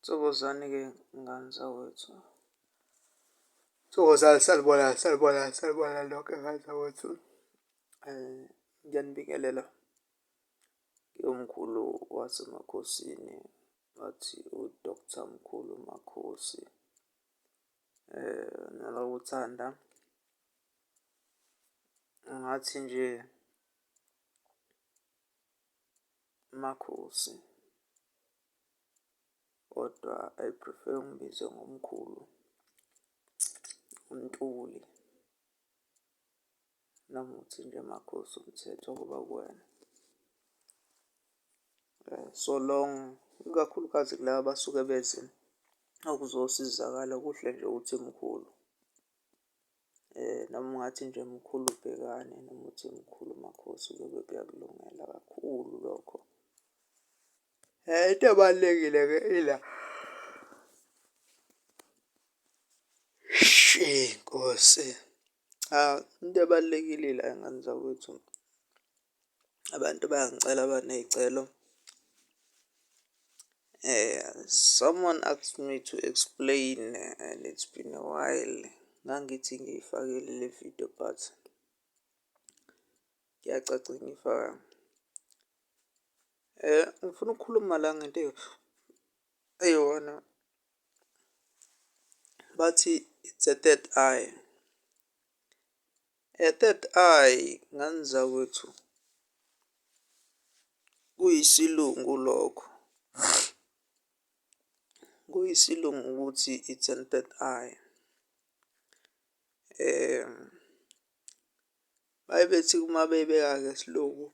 Thokozani-ke ngani zakwethu. Thokozani, sanibona, sanibona, sanibona nonke ngani zakwethu. Ngiyanibingelela, ngiwumkhulu waseMakhosini, ngathi u-Doctor Mkhulu Makhosi. NgingakuThanda, ngathi nje. Makhosi kodwa I prefer ungibize ngomkhulu uNtuli noma uthi nje Makhosi umthetho uba kuwena. So long, ikakhulukazi kulaba abasuke beze ukuzosizakala kuhle nje ukuthi mkhulu. Noma ungathi nje mkhulu Bhekane noma uthi mkhulu Makhosi kuyobe kuyakulungela kakhulu lokho. Into ebalulekile-ke ila shii Nkosi, cha into ebalulekile ila ngane zakwethu. Abantu bayangicela baney'celo someone asked me to explain and it's been a while ngangithi ngiyifakile le video but kuyacaca ngiyifakanga. Ngifuna ukukhuluma la ngento eyi-one bathi it's a third eye. A third eye ngani zakwethu kuyisilungu lokho. Kuyisilungu ukuthi it's an third eye. Bayebethi uma beyibeka ngesilungu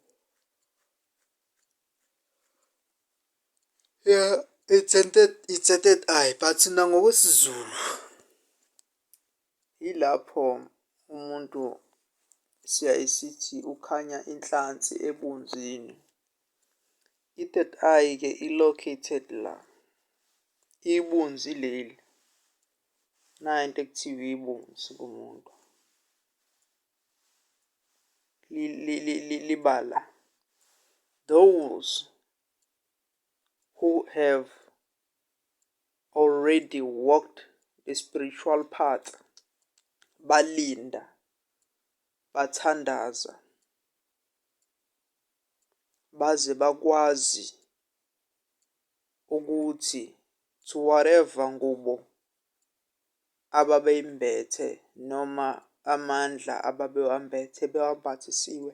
it's a third eye but nangokwesiZulu. Yilapho umuntu siyaye sithi ukhanya inhlansi ebunzini. I-third eye-ke i-located la, ibunzi leli. Nayi into ekuthiwa ibunzi kumuntu. Liba la. Those who have already walked the spiritual path balinda bathandaza baze bakwazi ukuthi to whatever ngubo ababeyimbethe noma amandla ababewambethe bewambathisiwe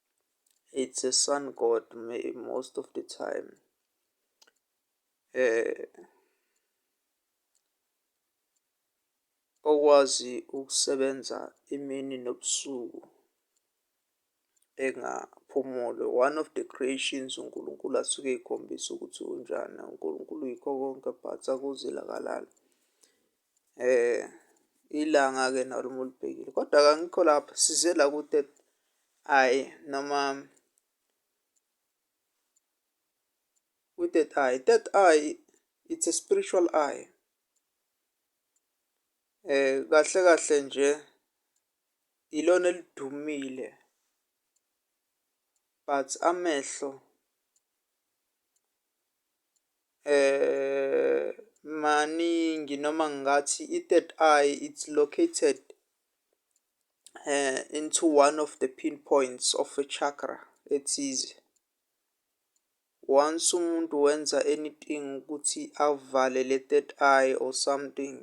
it's a sun god most of the time eh okwazi ukusebenza imini nobusuku engaphumule one of the creations uNkulunkulu asuke ekhombisa ukuthi unjani uNkulunkulu yikho konke but akuzelakalala Eh ilanga-ke nalo uma ulibhekile kodwa kangikho lapho size la kude ayi noma kwi-third eye third eye it's a spiritual eye eh kahle kahle nje ilona elidumile but amehlo Maningi noma ngingathi i-third eye it's located into one of the pin points of a chakra ethize. Once umuntu wenza anything ukuthi avale le-third eye or something,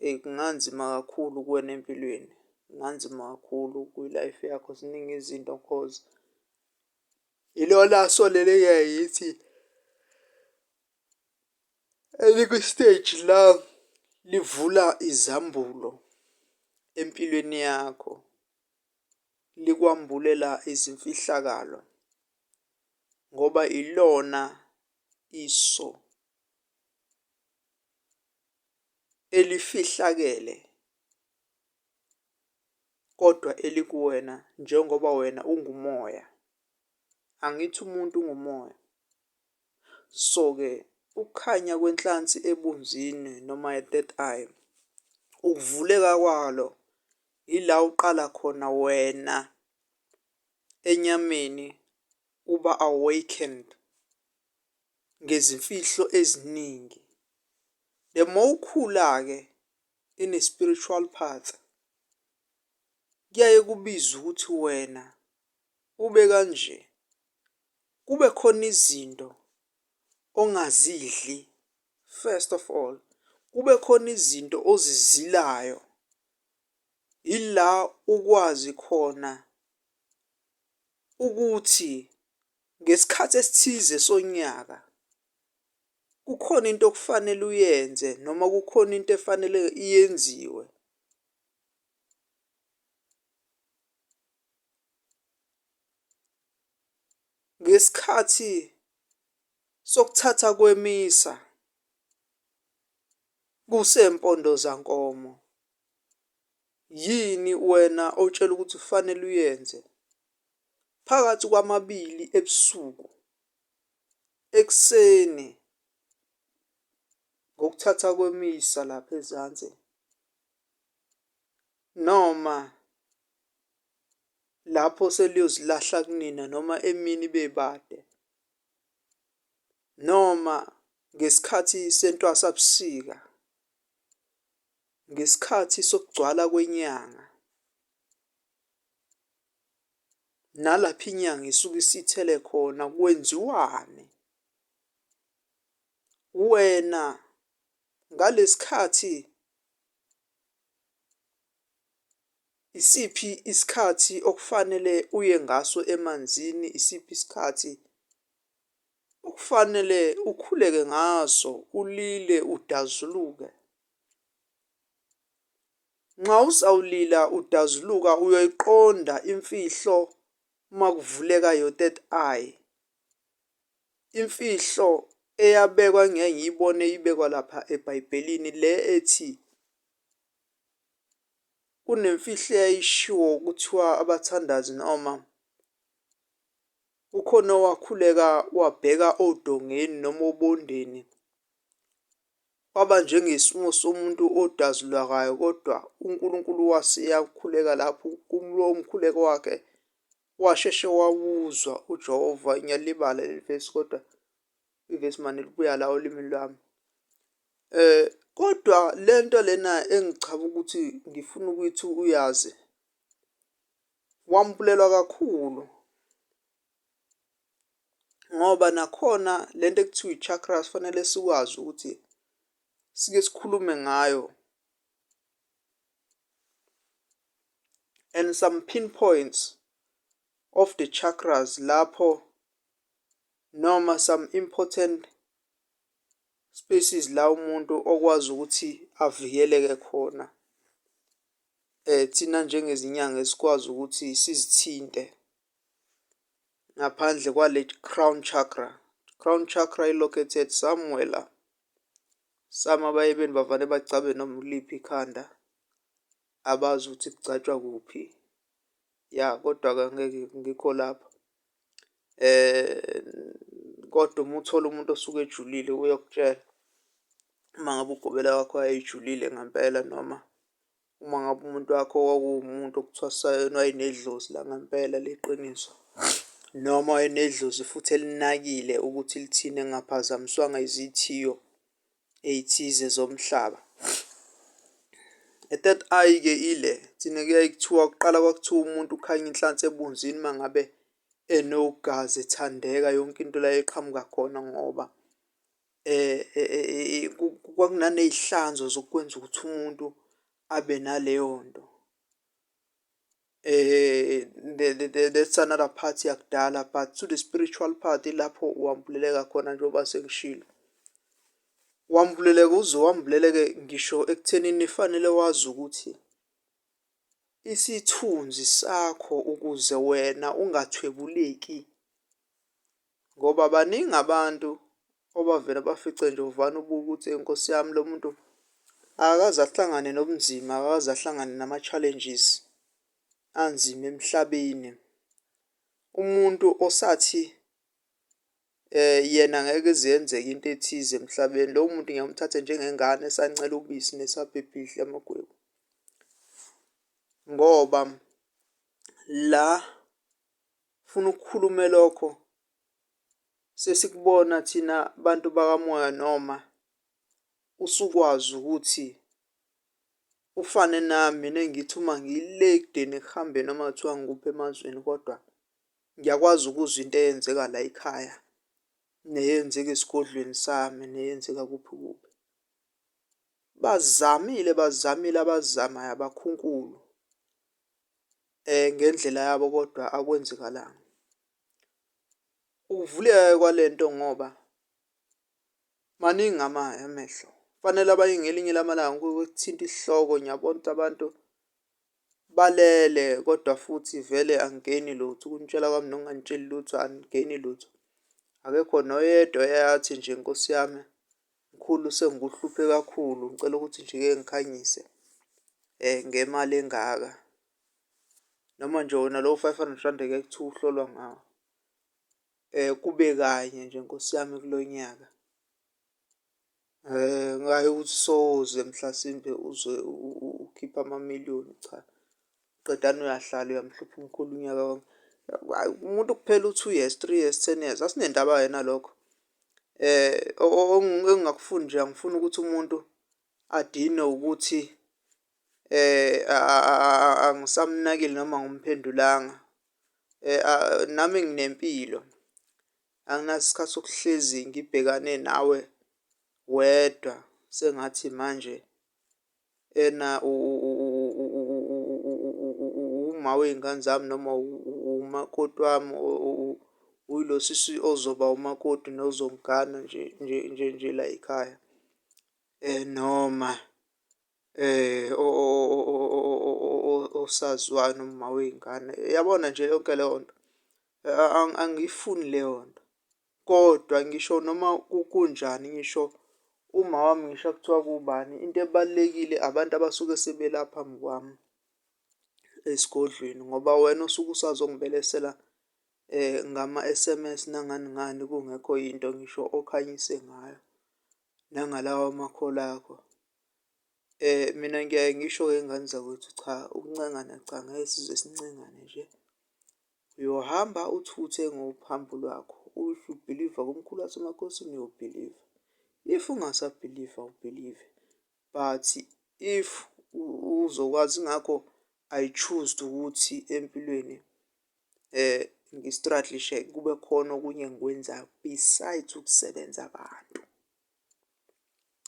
eyi kunganzima kakhulu kuwena empilweni. Kunganzima kakhulu kwi-life yakho ziningi izinto cause. Ilona asolele kuye yithi elikwi-stage la livula izambulo empilweni yakho, likwambulela izimfihlakalo ngoba ilona iso elifihlakele. kodwa elikuwena njengoba wena ungumoya. Angithi umuntu ungumoya. So-ke ukukhanya kwenhlansi ebunzini noma ye-third eye, ukuvuleka kwalo yila uqala khona wena enyameni uba awakened ngezimfihlo eziningi. The more ukhula-ke ine spiritual part kuyaye kubize ukuthi wena ube kanje kube khona izinto ongazidli first of all kube khona izinto ozizilayo ila ukwazi khona ukuthi ngesikhathi esithize sonyaka kukhona into okufanele uyenze noma kukhona into efanele iyenziwe ngesikhathi sokuthatha kwemisa kusempondo zankomo yini wena otshela ukuthi kufanele uyenze phakathi kwamabili ebusuku Ekuseni ngokuthatha kwemisa lapha ezansi noma lapho seliyozilahla kunina noma emini bebade noma ngesikhathi sentwasabusika, ngesikhathi sokugcwala kwenyanga. nalapho inyanga isuke isithele khona kwenziwani. Wena ngalesikhathi isiphi isikhathi okufanele uye ngaso emanzini, isiphi isikhathi okufanele ukhuleke ngaso ulile udazuluke. Nxa uzawulila udazuluka uyoyiqonda imfihlo uma kuvuleka your third eye. Imfihlo eyabekwa ngeke ngiyibone ibekwa lapha ebhayibhelini le ethi kunemfihlo eyayishiwo kuthiwa abathandazi noma kukhona owakhuleka wabheka odongeni noma obondeni Kwaba njengesimo somuntu odazulakayo kodwa uNkulunkulu wase yakhuleka lapho kulowo mkhuleko wakhe washeshe wawuzwa uJehova ngiyalibala leli vesi kodwa ivesi mane libuya la olimini lwami eh kodwa lento lena engichaba ukuthi ngifuna ukuthi uyazi wambulelwa kakhulu ngoba nakhona le nto ekuthiwa i-chakras kufanele sikwazi ukuthi sike sikhulume ngayo and some pinpoints of the chakras lapho noma some important spaces la umuntu okwazi ukuthi avikeleke khona eh thina njengezinyanga esikwazi ukuthi sizithinte ngaphandle kwale crown chakra crown chakra i located somewhere la sama baye beni bavane bacabe noma uliphi ikhanda abazi ukuthi kugcatshwa kuphi ya kodwa-ke ngeke ngikho lapho um kodwa uma uthola umuntu osuke ejulile uyokutshela uma ngabe ugobela wakho ayejulile ngempela noma Uma ngabe umuntu wakho kwakuwumuntu okuthiwa sayena wayenedlozi langempela leqiniso, noma wayenedlozi futhi elinakile ukuthi lithini engaphazamiswanga izithiyo ey'thize zomhlaba. E-third eye-ke ile thina kuyaye kuthiwa kuqala kwakuthiwa umuntu ukhanya inhlansi ebunzini uma ngabe enogazi ethandeka yonke into la eqhamuka khona ngoba kwakunaney'hlanzo zokwenza ukuthi umuntu abe naleyo nto. That's another part yakudala but to the spiritual part ilapho wambuleleka khona njengoba sengishilo. Wambuleleka uze wambuleleke ngisho ekuthenini fanele wazi ukuthi isithunzi sakho ukuze wena ungathwebuleki Ngoba baningi abantu obavela bafice nje uvana ubuke ukuthi Nkosi yami lo muntu akakaze ahlangane nobunzima, akakaze ahlangane nama-challenges anzima emhlabeni. Umuntu osathi yena ngeke ize yenzeke into ethize emhlabeni lowo muntu ngiyamthatha njengengane esancela ubisi nesabhebha idla amagwebu ngoba la funa ukukhulume lokho sesikubona thina bantu bakamoya noma usukwazi ukuthi ufane nami nengithi uma ngile ekudeni ekuhambeni uma kuthiwa ngikuphi emazweni kodwa ngiyakwazi ukuzwa into eyenzeka la ekhaya neyenzeka esigodlweni sami neyenzeka kuphi kuphi bazamile bazamile abazamayo abakhunkulu ngendlela yabo kodwa akwenzekalanga. Ukuvuleka-ke kwale nto ngoba maningi amehlo kufanele abanye ngelinye lamalanga kuthinta isihloko niyabo ukuthi abantu balele kodwa futhi vele angigeni lutho. Ukunitshela kwami nokungangitsheli lutho angigeni lutho, akekho noyedwa oyaye athi nje Nkosi yami. Mkhulu sengikuhluphe kakhulu ngicela ukuthi nje ke ngikhanyise ngemali engaka. Noma nje wona lowo five hundred rand ngeke kuthiwe uhlolwa ngawo kube kanye nje nkosi yami kulo nyaka. Hhayi ukuthi soze mhlasimpe uze ukhiphe amamiliyoni cha qedani uyahlala uyamhlupha umkhulu unyaka wonke. Hhayi umuntu kuphela u-two years, three years, ten years asinendaba-ke nalokho. engingakufundi nje angifuni ukuthi umuntu adinwe ukuthi angisamnakile noma angimphendulanga. Nami nginempilo anginaso isikhathi sokuhlezi ngibhekane nawe wedwa sengathi manje. ena uma wey'ngane zami noma umakoti wami uyilo sisi ozoba umakoti nozongigana nje nje nje nje layikhaya. Noma osaziwayo noma umawey'ngane yabona nje yonke leyo nto angiyifuni leyo nto. Kodwa ngisho noma kukunjani ngisho uma wami ngisho kuthiwa kubani into ebalulekile abantu abasuke sebela phambi kwami esigodlweni ngoba wena usuke usazongibelesela eh ngama-SMS nangani ngani kungekho yinto ngisho okhanyise ngayo nangalawa makhola akho eh mina ngiyaye ngisho-ke ngane zakwethu cha ukuncengana cha ngeke size sincengane nje Uyohamba uthuthe ngophambo lwakho. If you believer kumkhulu wasemakhosini uyobhiliva. If ungasabhiliva ubhilive. But if uzokwazi ngakho I choose ukuthi empilweni eh ngistrategishe kube khona okunye engikwenzayo besides ukusebenza abantu.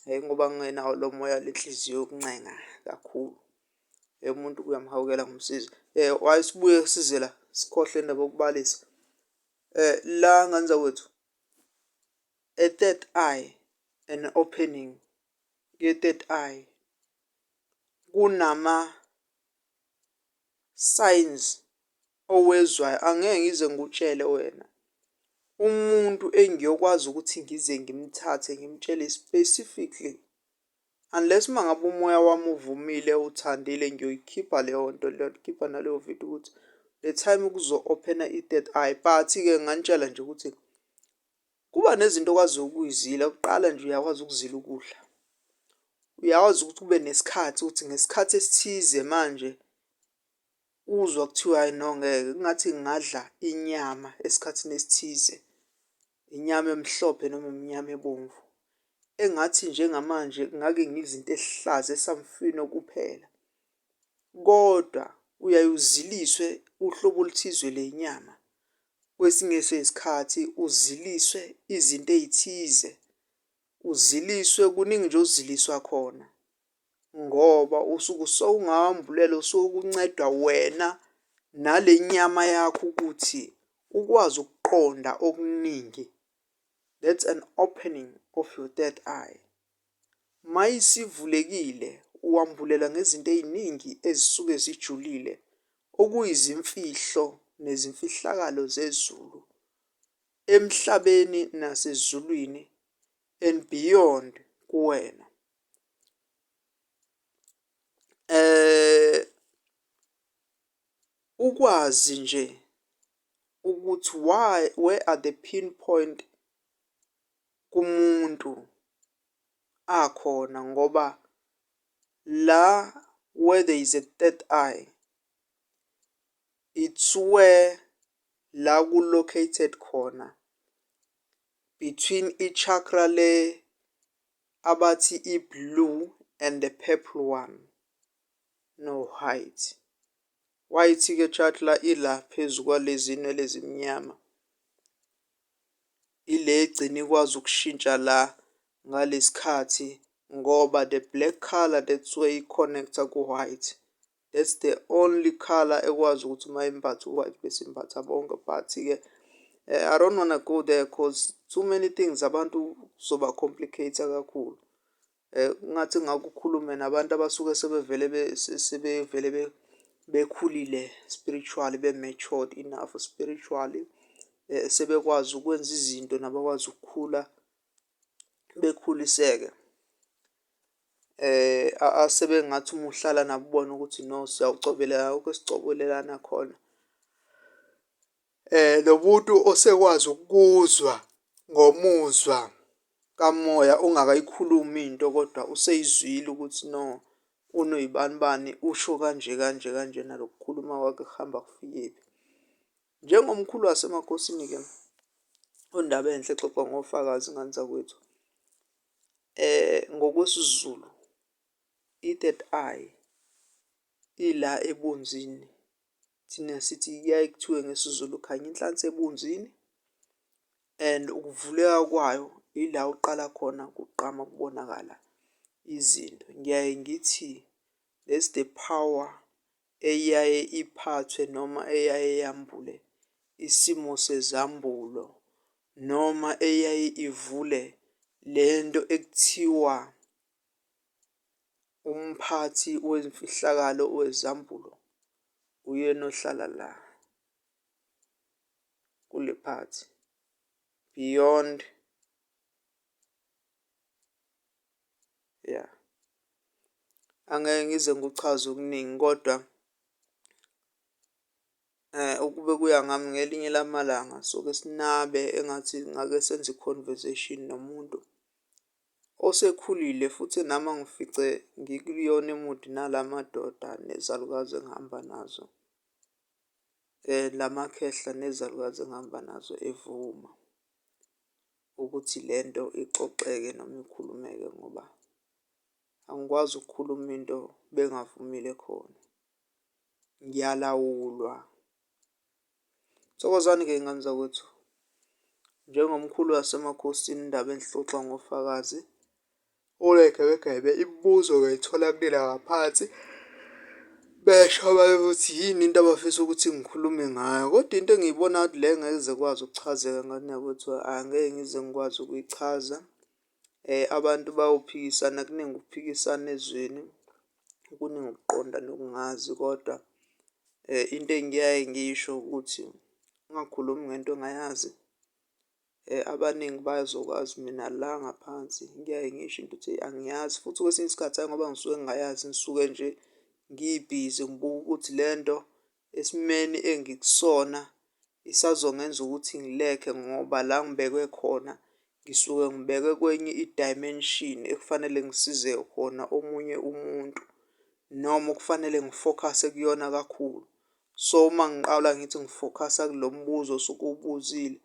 Hhayi ngoba ngingenawo lo moya le nhliziyo yokuncenga kakhulu. Hhayi umuntu uyamhawukela ngomsizi. Why sibuye size la sikhohlwe indaba yokubalisa? La ngane zakwethu a third eye and opening ye-third eye kunama-signs Owezwayo angeke ngize ngikutshele wena. Umuntu engiyokwazi ukuthi ngize ngimthathe ngimtshele specifically. Unless uma ngabe umoya wami uvumile uthandile ngiyoyikhipha leyo nto leyo ngikhipha naleyo video ukuthi the time kuzo-open-a i-third eye. But-ke nginganitshela nje ukuthi kuba nezinto okwaziyo ukuyizila kuqala nje uyakwazi ukuzila ukudla. Uyakwazi ukuthi ube nesikhathi ukuthi ngesikhathi esithize manje Uzwa kuthiwa hhayi no ngeke kungathi ngingadla inyama esikhathini esithize, inyama emhlophe noma imnyama ebomvu. Engathi njengamanje ngake ngidla into ehlaza esamfino kuphela. Kodwa uyaye uziliswe uhlobo oluthizwe lenyama. Kwesinye sesikhathi uziliswe izinto ey'thize, uziliswe kuningi nje oziliswa khona. ngoba usuke usowungawambulela usuke ukunceda wena nale nyama yakho ukuthi ukwazi ukuqonda okuningi. That's an opening of your third eye. Uma isivulekile uwambulela ngezinto ey'ningi ezisuke zijulile, okuyizimfihlo nezimfihlakalo zezulu, emhlabeni nasezulwini and beyond kuwena. Ukwazi nje ukuthi why, where are the pin point kumuntu akhona ngoba la where there is a third eye, it's where la ku-located khona between i-chakra le abathi iblue and the purple one no white. White ke chatla ila phezu kwalezi nywele ezimnyama. Ile egcina ikwazi ukushintsha la ngalesikhathi ngoba the black color that's where i connecta ku white. That's the only color ekwazi ukuthi uma imbatha u-white bese imbatha bonke but-ke eh, I don't wanna go there cause too many things abantu zoba complicate kakhulu eh ngathi ngakukhulume nabantu abasuke sebevele sebevele bekhulile spiritually be matured enough spiritually eh sebekwazi ukwenza izinto nabakwazi ukukhula bekhuliseke asebengathi uma uhlala nabo ubone ukuthi no siyawucobelelana akukho esicobelelana khona. Nomuntu osekwazi ukuzwa ngomuzwa kamoya ungakayikhulumi into kodwa useyizwile ukuthi no unoyibanibani usho kanje kanje kanje nalo kukhuluma kwakhe kuhamba kufikephi. Njengomkhulu wasemakhosini-ke uNdabenhle exoxa ngoFakazi ingane zakwethu ngokwesiZulu i-third eye ila ebunzini thina sithi kuyaye kuthiwe ngesiZulu khanye inhlansi ebunzini and ukuvuleka kwayo ila uqala khona kugqama kubonakala izinto. Ngiyaye ngithi that's the power eyaye iphathwe noma eyaye yambule isimo sezambulo noma eyaye ivule le nto ekuthiwa umphathi wezimfihlakalo wezambulo uyena ohlala la kule phathi beyond. ya angeke ngize ngikuchaze okuningi kodwa eh ukube kuya ngami ngelinye lamalanga soke sinabe engathi ngake senze i-conversation nomuntu osekhulile futhi nami angifice ngikuyona imudi nala madoda nezalukazi engihamba nazo. La makhehla nezalukazi engihamba nazo evuma. ukuthi le nto ixoxeke noma ikhulumeke ngoba angikwazi ukukhuluma into bengavumile khona. Ngiyalawulwa. Thokozani-ke y'ngane zakwethu. Njengomkhulu wasemakhosini indaba engixoxa ngofakazi. Oregebegebe imibuzo ngayithola kunina ngaphansi, besho abanye ukuthi yini into abafisa ukuthi ngikhulume ngayo. Kodwa into engiyibona ngathi le ngeke ize ikwazi ukuchazeka ngathi nakwethu angeke ngize ngikwazi ukuyichaza. Abantu bayophikisana kuningi ukuphikisana ezweni, kuningi ukuqonda nokungazi kodwa into engiyaye ngiyisho ukuthi ungakhulumi ngento ongayazi. Abaningi bayazokwazi mina la ngaphansi kuyaye ngisho into ukuthi angiyazi futhi kwesinye isikhathi hhayi ngoba ngisuke ngingayazi ngisuke nje ngibhizi ngibuka ukuthi le nto esimeni engikusona isazongenza ukuthi ngilekhe ngoba la ngibekwe khona ngisuke ngibekwe kwenye i-dimension ekufanele ngisize khona omunye umuntu noma okufanele ngifokhase kuyona kakhulu. So uma ngiqala ngithi ngifokhasa kulo mbuzo osuke ubuzile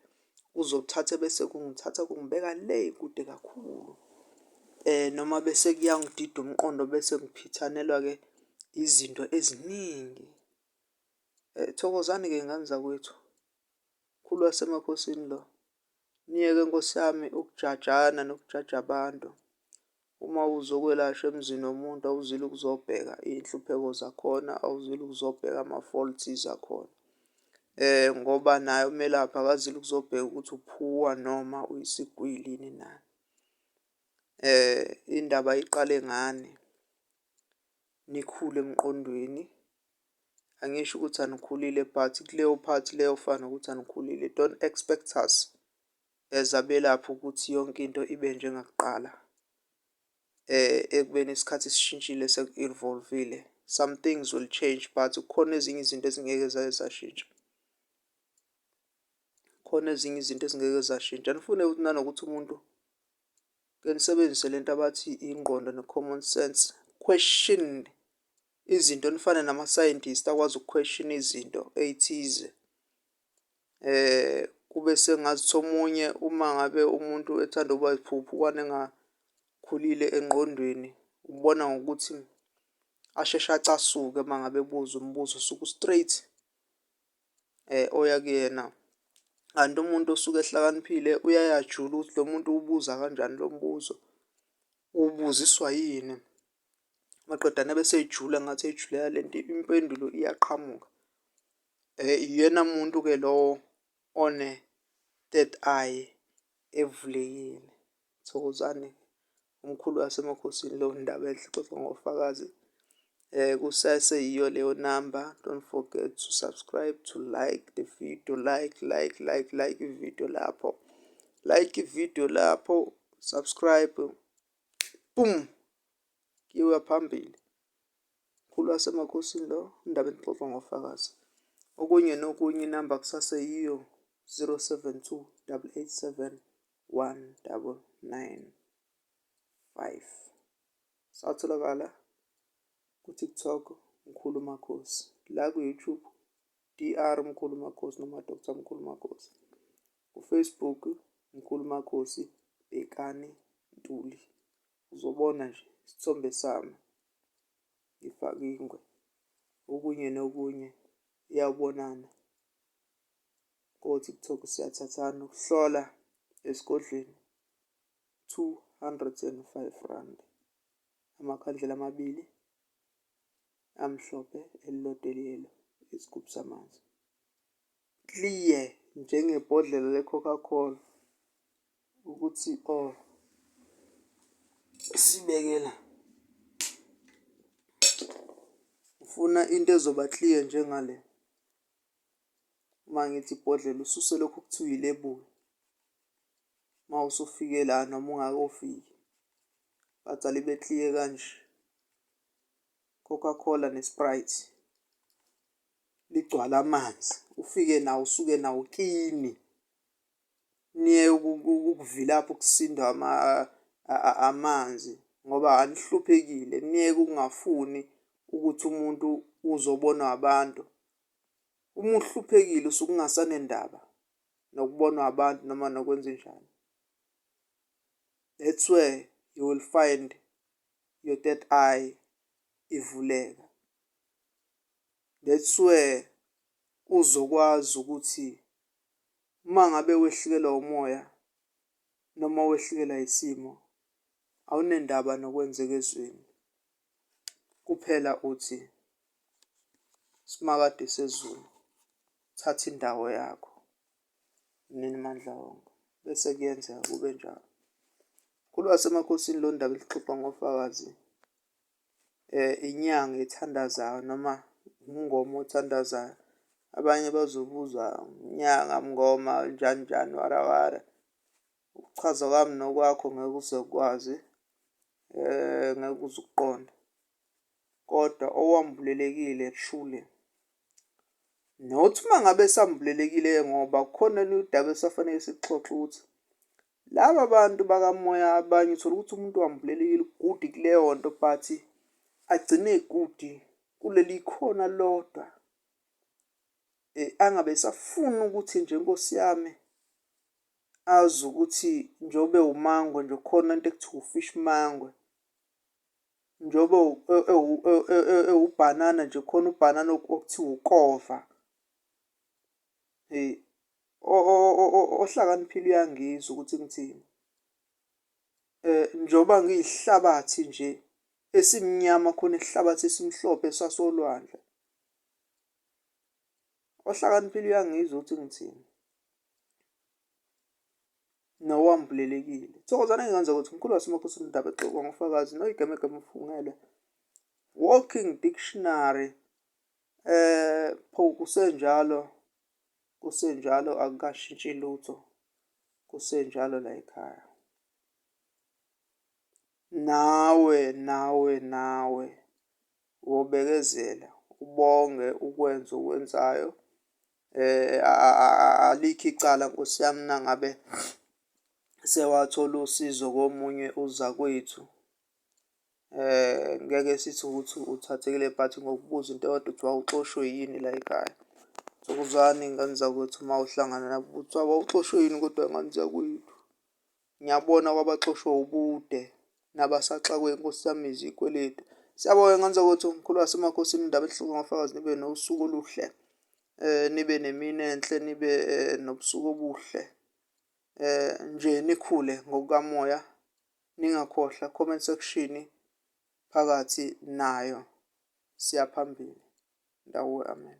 kuzothatha bese kungithatha kungibeka le kude kakhulu um noma bese kuyangidida umqondo bese ngiphithanelwa-ke izinto eziningi. Um thokozani-ke ngane zakwethu, mkhulu wasemakhosini lo. Myeke nkosi yami ukujajana nokujaja abantu. Uma uzokwelashwa emzini womuntu awuzile ukuzobheka iy'nhlupheko zakhona, awuzile ukuzobheka ama-faults akhona. Eh ngoba naye umelaphi akazile ukuzobheka ukuthi uphuwa noma uyisigwili yini na. Indaba iqale ngani, nikhule emqondweni. angisho ukuthi anikhulile but kuleyo part leyo fana ukuthi anikhulile don't expect us as abelaphi ukuthi yonke into ibe njengakuqala eh ekubeni isikhathi sishintshile seku-evolvile some things will change but kukhona ezinye izinto ezingeke zaye zashintsha khona ezinye izinto ezingeke zashintsha nifune ukuthi nanokuthi umuntu ke nisebenzise lento abathi ingqondo ne-common sense question izinto nifane nama scientist akwazi ukuquestion izinto eyithize eh kube sengathi omunye uma ngabe umuntu ethanda ukuba iphuphu kwane engakhulile engqondweni ubona ngokuthi asheshe acasuke uma ngabe buza umbuzo suku straight eh oya kuyena kanti umuntu osuke ehlakaniphile uyayajula ukuthi lo muntu ubuza kanjani lo mbuzo ubuziswa yini Maqedane bese ejula ngathi ejulela le nto impendulo iyaqhamuka. Uyena muntu-ke lowo one-third eye evulekile. Thokozani umkhulu wasemakhosini leyo ndaba enhle ixoxwa ngoFakazi. Kusese yiyo leyo namba. Don't forget to subscribe, to like the video, like, like, like, like ividiyo lapho. Like ividiyo lapho, subscribe Boom! Kuyiwa phambili. Mkhulu wasemakhosini lo, indaba enixoxa ngofakazi. Okunye nokunye inamba kusaseyiyo 072 887 1995. Satholakala ku-TikTok Mkhulu Makhosi, la ku-YouTube DR Mkhulu Makhosi noma Dr Mkhulu Makhosi. KuFacebook Nkulumakhosi Bhekani Ntuli uzobona nje isithombe sami ngifake ingwe okunye nokunye iyawubonana ko-TikTok siyathathana ukuhlola esigodlweni 205 rand amakhandlela amabili amhlophe elilodwa eliyelo isigubhu samanzi clear njengebhodlela le-Coca Cola ukuthi o oh, sibekela ufuna into ezoba clear njengale uma ngithi ibhodlela ususe lokhu kuthiwa ilebuli uma usufike la noma ungakofiki bathi alibe clear kanje Coca-Cola ne-Sprite ligcwale amanzi ufike nawo usuke nawo kini niye ukuvilapha ukusindwa amanzi ngoba anihluphekile niyeke ukungafuni ukuthi umuntu uzobonwa abantu uma uhluphekile usuke ungasanendaba nokubonwa abantu noma nokwenza njani that's where you will find your third eye ivuleka That's where uzokwazi ukuthi uma ngabe wehlikelwa umoya noma wehlikelwa isimo awunendaba nokwenzeka ezweni. Kuphela uthi simakade sezulu thatha indawo yakho nini mandla wonke bese kuyenzeka kube njalo. Mkhulu waseMakhosini lo ndaba elixoxa ngofakazi. inyanga ethandazayo noma umngoma othandazayo. Abanye bazobuza nyanga, mngoma, njani njani wara wara. Ukuchaza kwami nokwakho ngeke uze ukwazi, ngeke uze ukuqonde. Kodwa owambulelekile shule, not uma ngabe esambulelekile-ke ngoba kukhona olunye udaba esafanele silixoxe ukuthi Laba bantu bakamoya abanye uthola ukuthi umuntu wambulelekile ugudi kuleyo nto but agcine egudi kuleli khona lodwa eh, angabe esafuna ukuthi nje nkosi yami azi ukuthi njobe umangwe nje khona into ekuthiwa ufish mangwe njobe ewubhanana nje khona ubhanana okuthiwa ukova hey Ohlakaniphile uyangizwa ukuthi ngithini. Njengoba ngiyihlabathi nje esimnyama khona isihlabathi esimhlophe sasolwandle. Ohlakaniphile uyangizwa ukuthi ngithini. Nowambulelekile. Thokozani engingenzeka ukuthi mkhulu wasemakhosi umndaba exoka ngofakazi noyigemegeme ufungelwe. Walking Dictionary um pho kusenjalo Kusenjalo akukashintshi lutho. Kusenjalo la ekhaya. Nawe nawe nawe wobekezela ubonge ukwenza okwenzayo eh alikho icala Nkosi yami nangabe sewathola usizo komunye uzakwethu Eh ngeke sithi ukuthi uthathekile but ngokubuza into eyodwa kuthiwa uxoshwe yini la ekhaya. So buzani ngane zakwethu uma uhlangana nabo ukuthi wawuxoshwe yini kodwa ngane zakwethu. Ngiyabona kwabaxoshwe ubude nabasaxakwe Nkosi yami izikweletu. Siyabonga ngane zakwethu mkhulu wasemakhosini indaba ehloko ngofakazi nibe nosuku oluhle nibe nemini enhle nibe nobusuku obuhle nje nikhule ngokukamoya. ningakhohlwa comment section phakathi nayo siyaphambili ndawo amen.